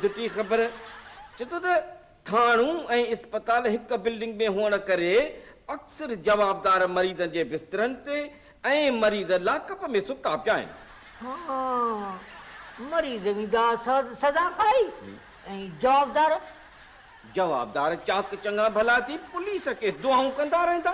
جتي خبر چتو ته ٿاڻو ۽ اسپتال هڪ بلڊنگ ۾ هئڻ ڪري اڪثر جوابدار مريضن جي بسترن تي ۽ مريض لاڪ اپ ۾ ستا پيا آهن. ها مريض ويندا سزا کائي ۽ جوابدار؟ جوابدار چاڪ چڱا ڀلا ٿي پوليس کي دعائون ڪندا رهندا.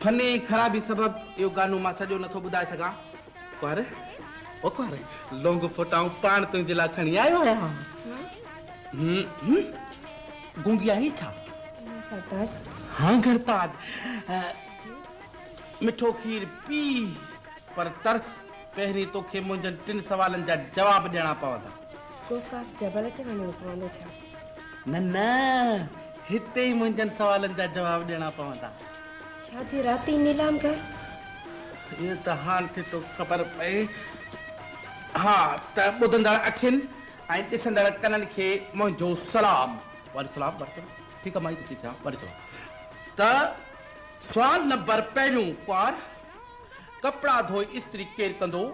فني خرابي سبب اهو گانو مان سڄو نٿو ٻڌائي سگهان. ڪنوار، او ڪنوار، لونگ ڦوٽا آئون پاڻ تنهنجي لاء کڻي آيو آهيان. هوم، گونگي آهين ڇا؟ نه سرتاج. ها گهرتاج، مٺو کير پي، پر ترس، پهرين توکي منهنجن ٽن سوالن جا جواب ڏيڻا پوندا. ڪوڪاٽ جبل تي وڃڻو پوندو ڇا؟ نه نه هتي ئي منهنجن سوالن جا جواب ڏيڻا پوندا. شادي رات ئي نيلام گهر. ايئن ته هاڻ ٿي ٿو خبر پئي. ها ته ٻڌندڙ اکين ۽ ڏسندڙ ڪنن کي منهنجو سلام. وعليڪم سلام وعليڪم سلام ٺيڪ آ مائي ته ٺيڪ آ وعليڪم سلام ته سوال نمبر پهريون ڪنوار. ڪپڙا ڌوئي استري ڪير ڪندو؟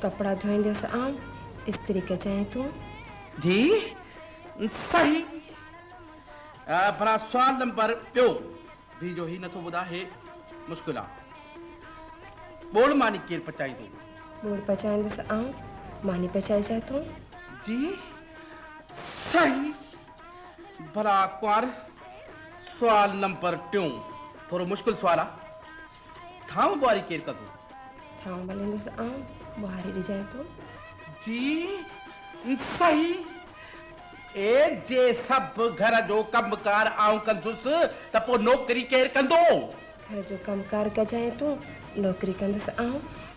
ڪپڙا ڌوئينديس آئون، استري ڪجانء تون. ڌيء، صحيح. ڀلا سوال نمبر ٻيو ڌيء جو هي نٿو ٻڌاء هي مشڪل آ. ٻوڙ ماني ڪير پچائيندو؟ ٻوڙ پچائينديس آئون، ماني پچائجانء تون. ڌيء، صحيح. ڀلا ڪنوار سوال نمبر ٽيون ٿورو مشڪل سوال آ. ٿانو ٻوهاري ڪير ڪندو؟ ٿانو مليندس آئون، ٻوهاري ڏجانء ٿو. جي صحيح، اي جي سڀ گهر جو ڪم ڪار آئون ڪندس ته پوء نوڪري ڪير ڪندو؟ گهر جو ڪم ڪار ڪجانء تون، نوڪري ڪندس آئون،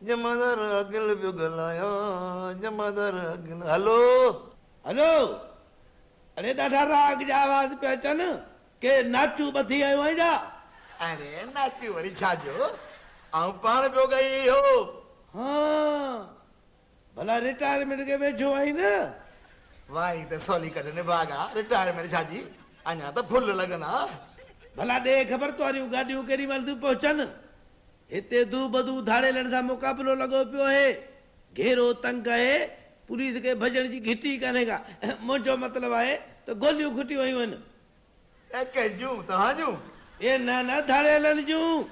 جمعدار عاقل پيو ڳالهايان، جمعدار عاقل، هلو! هلو! اڙي ڏاڍا راڳ جا آواز پيا اچن، ڪي ناچون ٻڌي آيو آهين ڇا؟ اڙي ناچون وري ڇا جو، آئون پاڻ پيو ڳائي اهو. هان! ڀلا رٽائرمينٽ کي ويجهو آهين نه؟ واء هي ته سولي ڪڍ نڀاڳا، رٽائرمينٽ ڇا جي، اڃا ته ڦل لڳندا. ڀلا ڏي خبر تنهاريون گاڏيون ڪيڏي مهل ٿيون پهچن؟ هتي دو بدو ڌاڙيلن سان مقابلو لڳو پيو اهي گهيرو تنگ اهي پوليس کي ڀڄڻ جي گهٽ ئي ڪانهي ڪا منهنجو مطلب آهي ته گوليون کٽيون ويون آهن. اي ڪنهن جون؟ توهان جون؟ اي نه نه ڌاڙيلن جون.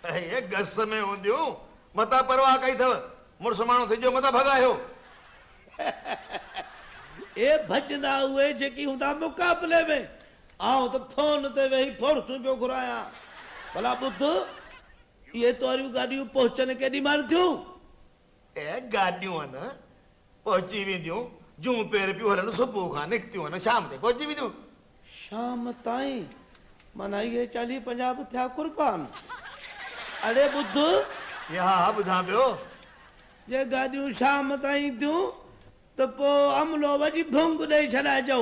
اي گس ۾ هونديون متان پرواهه ڪئي اٿو مڙس ماڻهو سجهو متان ڀڳايو. اي ڀڄندا اهي جيڪي هوندا مقابلي ۾. آئون ته فون تي ويهي فورسون پيو گهرايان. ڀلا ٻڌ، اهي تنهاريون گاڏيون پهچن ڪيڏي مهل ٿيون؟ اهي گاڏيون هن پهچي وينديون، جون پير پيون هلن، صبح کان نڪتيون هن شام تائين پهچي وينديون. شام تائين؟ معنيٰ اهي چاليهه پنجاهه به ٿيا قربان. اڙي ٻڌ. جي ها ها ٻڌان پيو. جي گاڏيون شام تائين ٿيون ته پوء عملو وڄي ڀونگ ڏئي ڇڏائجو.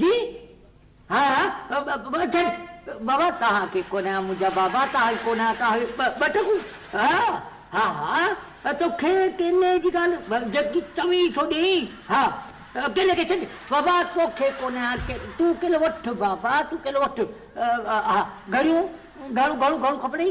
جي ها ها ٻه ڇڏ بابا توهان کي ڪونه ها منهنجا بابا توهان کي ڪونه ها توهان کي ٻه ٽڪون ها ها ها ها توکي ڪيلي جي ڳالهه جيڪي چوين سو ڏيئين ها ڪيلي کي ڇڏ بابا توکي ڪونه ها تون ڪيلو وٺ بابا تون ڪيلو وٺ ها گهڙيون گهڻو گهڻو کپنئي.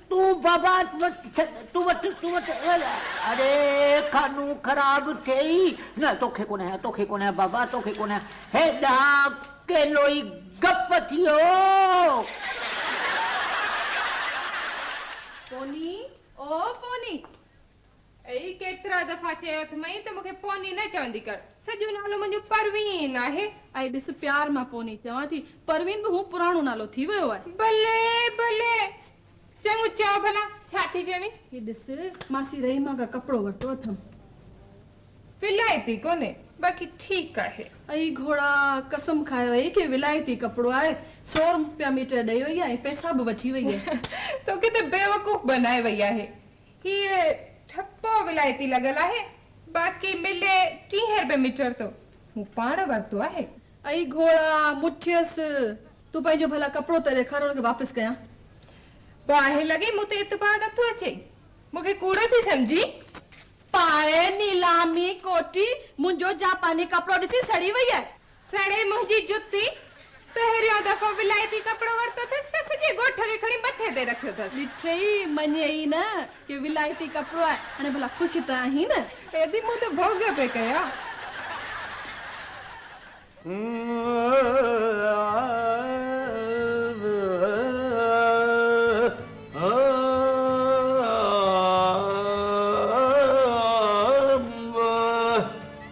تون بابا تون وٽ تون وٽ اڙي کانو خراب ٿئي نه توکي ڪونه هيا توکي ڪونه هيا بابا توکي ڪونه هيا هيڏانهن ڪيلوئي گپ ٿيو پوني او پوني اي ڪيترا دفعا چيو اٿمئي ته مون کي پوني نه چوندي ڪر. سڄو نالو منهنجو پروين آهي. اي ڏس پيار مان پوني چوان ٿي. پروين به هو پراڻو نالو ٿي ويو آهي. بلي بلي چڱو چئو ڀلا ڇا ٿي چوين. هي ڏس ماسي رحيما کان ڪپڙو ورتو اٿم. ولايتي ڪونهي باقي ٺيڪ آهي. اي گهوڙا قسم کائي وئي ڪي ولايتي ڪپڙو آهي. سو روپيا ميٽر ڏئي وئي آهي ۽ پئسا به وٺي وئي آهي. توکي ته بيوقوف بنائي وئي آهي. هيء ٺپو ولايتي لڳل آهي، باقي ملي ٽيهين رپئي ميٽر ٿو. مون پاڻ ورتو آهي. اي گهوڙا، مون ٺيس، تون پنهنجو ڀلا ڪپڙو ته ڏيکار ان کي واپس ڪيان. باهه لڳي، مون تي اعتبار نه ٿو اچي. مون کي ڪوڙو ٿي سمجهين؟ پائي نيلامي ڪوٺي منهنجو جاپاني ڪپڙو ڏسي سڙي وئي آهي. سڙي منهنجي جتي! پهريون دفعو ولائتي ڪپڙو ورتو ٿس ته سڄي ڳوٺ کي کڻي مٿي تي رکيو ٿس. ڏٺئي مڃي ئي نه ڪي ولائتي ڪپڙو آهي هاڻي ڀلا خوش ته آهين نه. ايڏي مون تي ڀوڳ پئي ڪيا.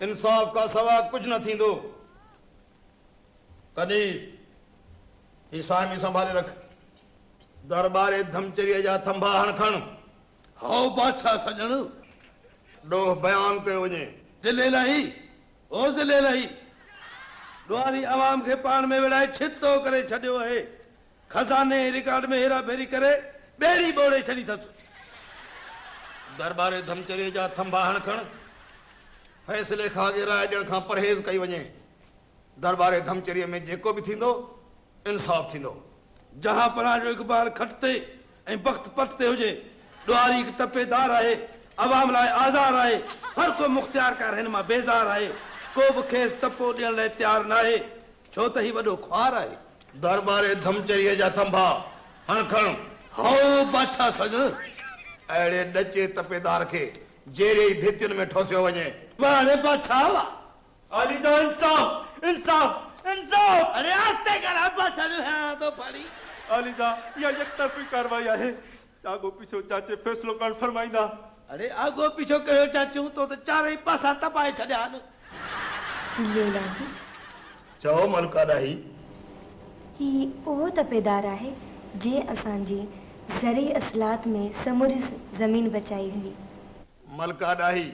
انصاف کان سوا ڪجهه نه ٿيندو. تڏهن هي سائمي سنڀالي رک. در ٻاري ڌمچريء جا ٿنڀا هڻ کڻ. هائو بادشاهه سڄڻ. ڏوهه بيان ڪيو وڃي. ضلع الاهي! او ضلع الاهي! ڏوهاري عوام کي پاڻ ۾ وڙهائي ڇت ٿو ڪري ڇڏيو اهي. خزاني ۽ رڪارڊ ۾ هيرا ڦيري ڪري ٻيڙي ٻوڙي ڇڏي ٿس. درٻاري ڌمچري جا ٿنڀا هڻ کڻ فيصلي کان اڳي راء ڏيڻ کان پرهيز ڪئي وڃي. درٻاري ڌمچري ۾ جيڪو به ٿيندو انصاف ٿيندو. جهان پناهه جو اخبار کٽ تي ۽ بخت پٽ تي هجي. ڏوهاري هڪ تپي دار آهي. عوام لاء آزار آهي. هر ڪو مختيارڪار هن مان بيزار آهي. ڪو به کيس تپو ڏيڻ لاء تيار ناهي. ڇو ته هي وڏو خوار آهي. درٻاري ڌمچريء جا ٿنڀا هڻ کڻ. هائو، بادشاهه سڄڻ! اهڙي ڏچي تپيدار کي جيري ئي ڀيتين ۾ ٺوسيو وڃي. واهه ري بادشاهه واهه! عالي جان انصاف! انصاف! انصاف! اڙي آهستي ڳالهاء بادشاهه جو هيڻان ٿو ڦڙي. عالي جان، اها يڪطرفي ڪارروائي آهي. آگو پيڇو چاچي فيصلو ڪرڻ فرمائيندا. اڙي آگو پيڇو ڪهڙو چاچو تو ته چارئي پاسا تبائي ڇڏيا آهن. سنڌي الاهي. چئو ملڪ الاهي. هي اهو تپيدار آهي جنهن اسان جي زرعي اصلاحات ۾ سموري زمين بچائي هئي. ملڪ الاهي.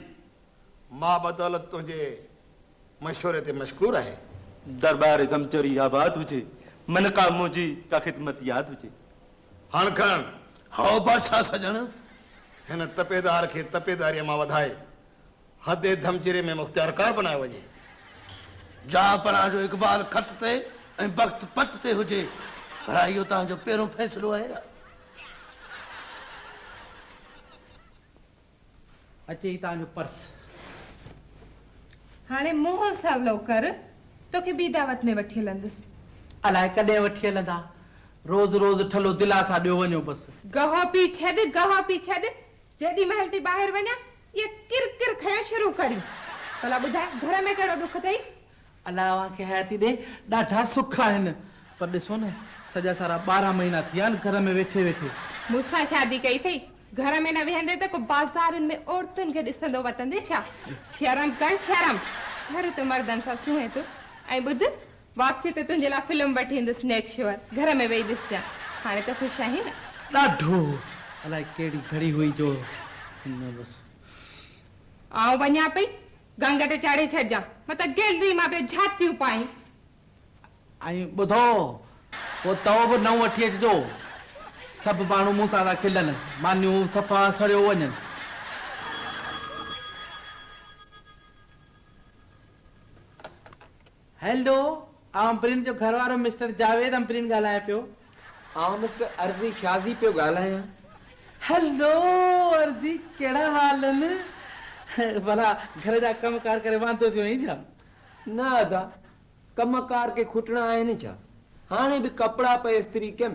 مان بدولت تنهنجي مشوري تي مشڪور آهي. دربار دمچري آباد هجي. منقا منهنجي ڪا خدمت ياد هجي. هڻ کڻ، هائو بادشاهه سڄڻ! هن تپيدار کي تپيداريء مان وڌائي، حد ڌمجري ۾ مختيارڪار بنايو وڃي. جا پناهه جو اقبال خط تي ۽ بخت پٽ تي هجي، ڀلا اهو توهان جو پهريون فيصلو آهي ۽. اچي هي توهان جو پرس. هاڻي منهن سولو ڪر، توکي ٻي دعوت ۾ وٺي هلندس. الاء ڪڏهن وٺي هلندا. روز روز ٺلهو دلاسا ڏيو وڃو بس. گهه پي ڇڏ، گهه پي ڇڏ، جيڏي مهل ٿي ٻاهر وڃان، اها ڪر ڪر کڻڻ شروع ڪرين. ڀلا ٻڌاء، گهر ۾ ڪهڙو ڏک اٿئي؟ الله اوهان کي حياتي ڏي ڏاڍا سک آهن پر ڏسو نه سڄا سارا ٻارهن مهينا ٿي ويا آهن گهر ۾ ويٺي ويٺي. مون سان شادي ڪئي اٿئي گهر ۾ نه ويهندي ته ڪو بازارن ۾ عورتن کي ڏسندو وتندي ڇا شرم ڪر شرم گهر ته مردن سان سونهين ٿو ۽ ٻڌ واپسي تي تنهنجي لاء فلم وٺي ايندس نيڪ شور گهر ۾ ويهي ڏسجان هاڻي ته خوش آهين نه. ڏاڍو الائي ڪهڙي گهڙي هئي جو نه بس. آئون وڃان پئي گهنگهٽ چاڙهي ڇڏجان متان گيلري مان به جهاتيون پائين. ۽ ٻڌو، پوء تئو به نئون وٺي اچجو. سڀ ماڻهو مون سان ٿا کلن، مانيون صفا سڙيو وڃن. هيلو آء امپرين جو گهر وارو مسٽر جاويد امپرين ڳالهايان پيو. آء مسٽر عرضي شازي پيو ڳالهايان. هيلو عرضي ڪهڙا حال ان. ڀلا گهر جا ڪم ڪار ڪري واندو ٿيو آهين ڇا؟ نه ادا ڪم ڪار ڪي کوٽڻا آهن ڇا. هاڻي به ڪپڙا پئي استري ڪيم